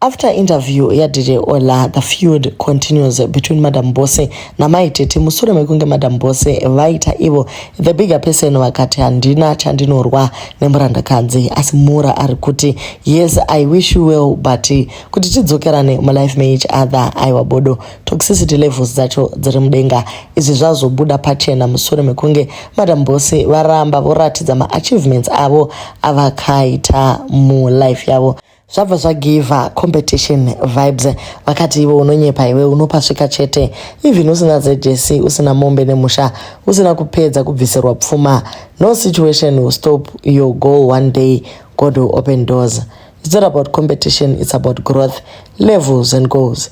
After interview yaDJ Ola, the feud continues between Madam Bose naMai Tete musure mekunge Madam Bose vaita ivo the bigger person vakati handina chandinorwa nemurandakadzi asi Mura ari kuti yes I wish you well but kuti tidzokerane mulife meeach other aiwa bodo toxicity levels dzacho dziri mudenga izvi zvazobuda pachena musure mekunge Madam Bose varamba voratidza maachievements avo avakaita mulife yavo zvabva zvagiva competition vibes vakati iwe unonyepa iwe unopasvika chete even usina zjc usina mombe nemusha usina kupedza kubvisirwa pfuma no situation will stop your goal one day god will open doors it's not about competition it's about growth levels and goals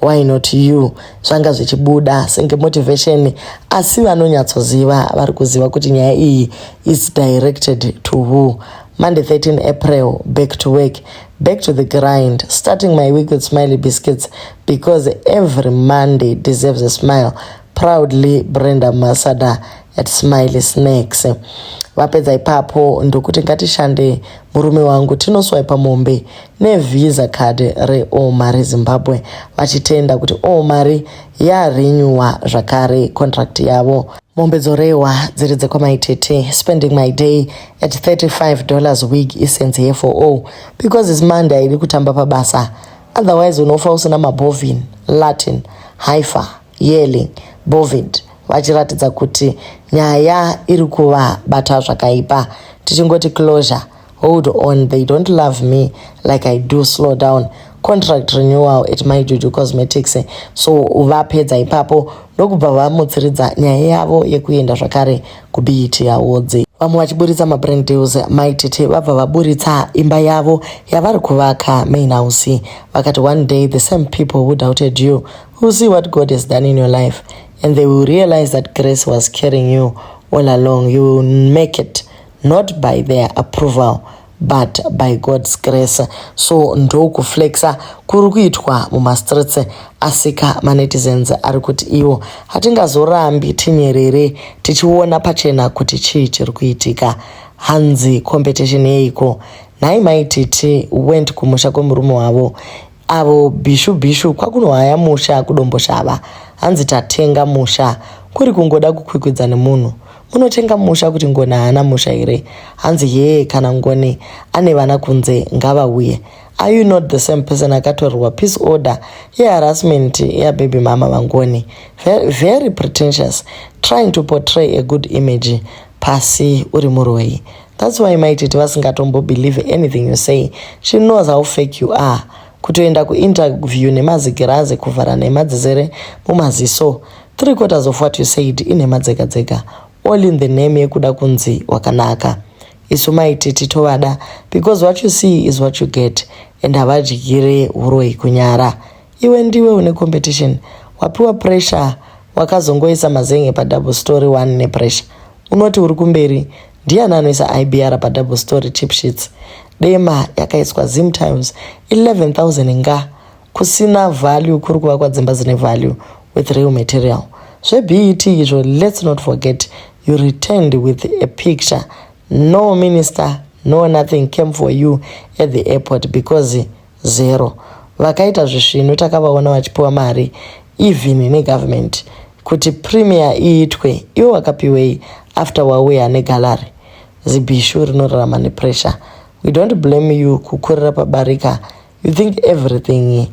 Why not you? Zvanga zvichibuda senge motivation asi vanonyatsoziva vari kuziva kuti nyaya iyi is directed to who. Monday 13 April, back to work, back to the grind, starting my week with smiley biscuits because every Monday deserves a smile. Proudly, Brenda Masada. at smiley snacks vapedza ipapo ndokuti ngatishande murume wangu tinoswaipa mombe nevisa card reoma rezimbabwe vachitenda kuti omari yarenyuwa zvakare contract yavo mombe dzorehwa dziri dzekwamaitete spending my day at 35 dollars wig isense here for all because is monday aidi kutamba pabasa otherwise unofa usina mabovin latin haifa Yelling, Bovid vachiratidza kuti nyaya iri kuvabata zvakaipa. Tichingoti closure, hold on, they don't love me like I do, slow down. Contract renewal at my Juju Cosmetics. So vapedza ipapo ndokubva vamutsiridza nyaya yavo yekuenda zvakare kuBET Awards. Vamwe vachiburitsa mabrand deals, Mai Tete vabva vaburitsa imba yavo yavari kuvaka main house. Vakati one day the same people who doubted you You'll see what God has done in your life and they will realize that grace was carrying you all along. You will make it not by their approval but by God's grace. So ndokuflexa kuri kuitwa mumastreets asika manetizens ari kuti iwo hatingazorambi tinyerere tichiona pachena kuti chii chiri kuitika hanzi competition yeiko nhai maititi went kumusha kwemurume wavo avo bhishu bhishu kwakunohaya musha kudomboshava hanzi tatenga musha kuri kungoda kukwikwidza nemunhu munotenga musha kuti ngoni haana musha here hanzi hee kana ngoni ane vana kunze ngavauye are you not the same person akatorerwa peace order yeharassment yababy mama vangoni very, very pretentious trying to portray a good image pasi uri muroyi That's why mai tete vasingatombo believe anything you say. She knows how fake you are. Kutoenda kuinterview nemazigirazi kuvhara nhema dzizere mumaziso. Three quarters of what you said inhema dzega dzega. All in the name yekuda kunzi wakanaka. Isu mai tete tovada because what you see is what you get and havadyire uroyi kunyara. Iwe ndiwe une competition. Wapiwa pressure wakazongoisa mazen'e padouble story one nepressure. Unoti uri kumberi Ndiani anoisa IBR pa double story cheap sheets? Dema yakaiswa Zim Times 11000 nga kusina value kuri kuvakwa dzimba dzine value with real material. Zve BET izvo let's not forget you returned with a picture no minister no nothing came for you at the airport because zero vakaita zvisvinu takavaona vachipiwa mari even negovernment kuti premier iitwe iwe wakapiwei after wauya negallery zibishu rinorarama nepressure we don't blame you kukurira pabarika you think everything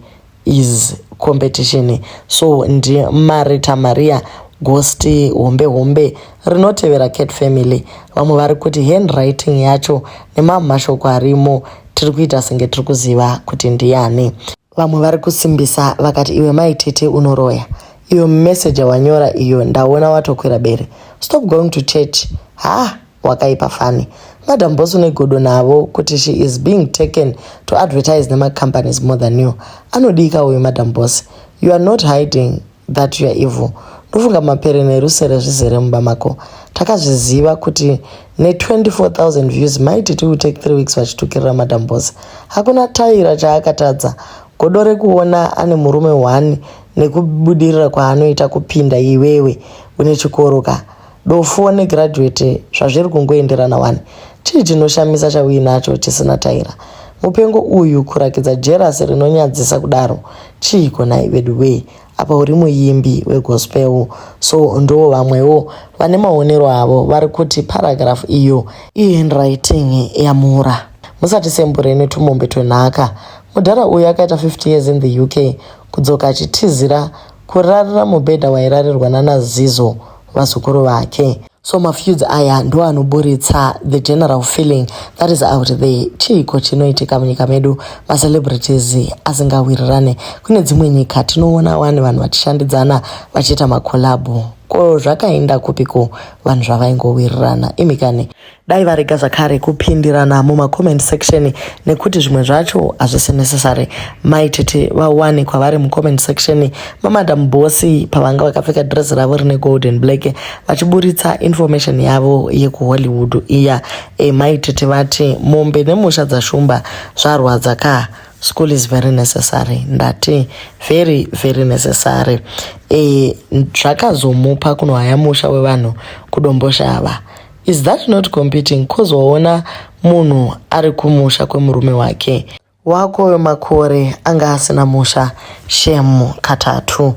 is competition so ndimari tamaria gosti hombe hombe rinotevera Cat Family. Vamwe vari kuti handwriting yacho nemamwe mashoko arimo tiri kuita senge tiri kuziva kuti ndiani. Vamwe vari kusimbisa vakati iwe mai tete unoroya. Iyo message yawanyora iyo ndaona watokwira bere. Stop going to church. Ha, wakaipa fani. Madam boss une godo navo kuti she is being taken to advertise nema companies more than you. Anodika uyu madam boss. You are not hiding that you're evil ndofunga mapere nerusere zvizere mumba mako takazviziva kuti ne24000 views maiti ti take three weeks vachitukirira madam bose hakuna taira chaakatadza godo rekuona ane murume one nekubudirira kwaanoita kupinda iwewe une chikoro ka Dofo ne graduate zvazviri kungoenderana wani. Chii chinoshamisa chauinacho chisina taira. Mupengo uyu kurakidza jerasi rinonyadzisa kudaro chiiko nhai veduwee apa uri muimbi wegospel so ndo vamwewo vane maonero avo vari kuti paragraph iyo ihandwriting yamura musati sembure netumombe twenhaka mudhara uyu akaita 50 years in the uk kudzoka achitizira kurarira mubhedha wairarirwa nanazizo vazukuru vake so mafeuds aya ndo anoburitsa the general feeling that is out there chiiko chinoitika munyika medu macelebrities asingawirirane kune dzimwe nyika tinoona wani vanhu vachishandidzana vachiita makolabho ko zvakaenda kupiko vanhu zvavaingowirirana imikane dai varega zvakare kupindirana mumacomment section nekuti zvimwe zvacho hazvisi necessary mai tete vawani kwavari mucomment section mamadam bosi pavanga vakapfeka dress ravo rine golden black vachiburitsa information yavo yekuhollywood iya e mai tete vati mombe nemusha dzashumba zvarwadza ka school is very necessary ndati very very necessary e, zvakazomupa kunohaya musha wevanhu kudomboshava Is that not competing cause waona munhu ari kumusha kwemurume wake wako uyo makore anga asina musha shemu katatu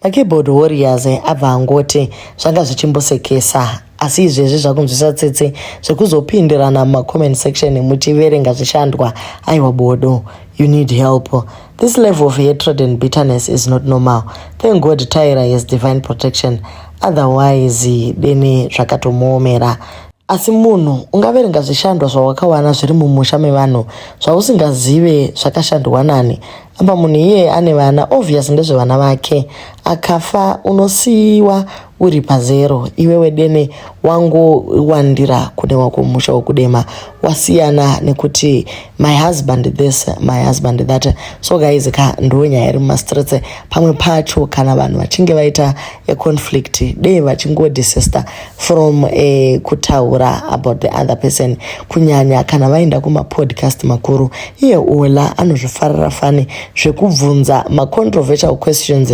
makeyboard warriors abva angoti zvanga zvichimbosekesa asi izvezvi zvakunzwisa tsitsi zvekuzopindirana mumacomment section muchiverenga zvishandwa aiwa bodo you need help This level of hatred and bitterness is not normal. Thank God Tyra has divine protection. Otherwise, dene zvakatomuomera. Asi munhu ungaverenga zvishandwa zvawakawana zviri mumusha mevanhu zvausingazive zvakashandwa nani. Apa munhu iye ane vana obvious ndezvevana vake. Akafa unosiiwa uri pazero iwewe dene wangowandira kune wako musha wokudema wasiyana nekuti my husband this my husband that so guys ka ndo nyaya iri mumastreets pamwe pacho kana vanhu vachinge vaita a conflict dei vachingodesista from a kutaura about the other person kunyanya kana vaenda kumapodcast makuru iye ola anozvifarira fani zvekubvunza macontroversial questions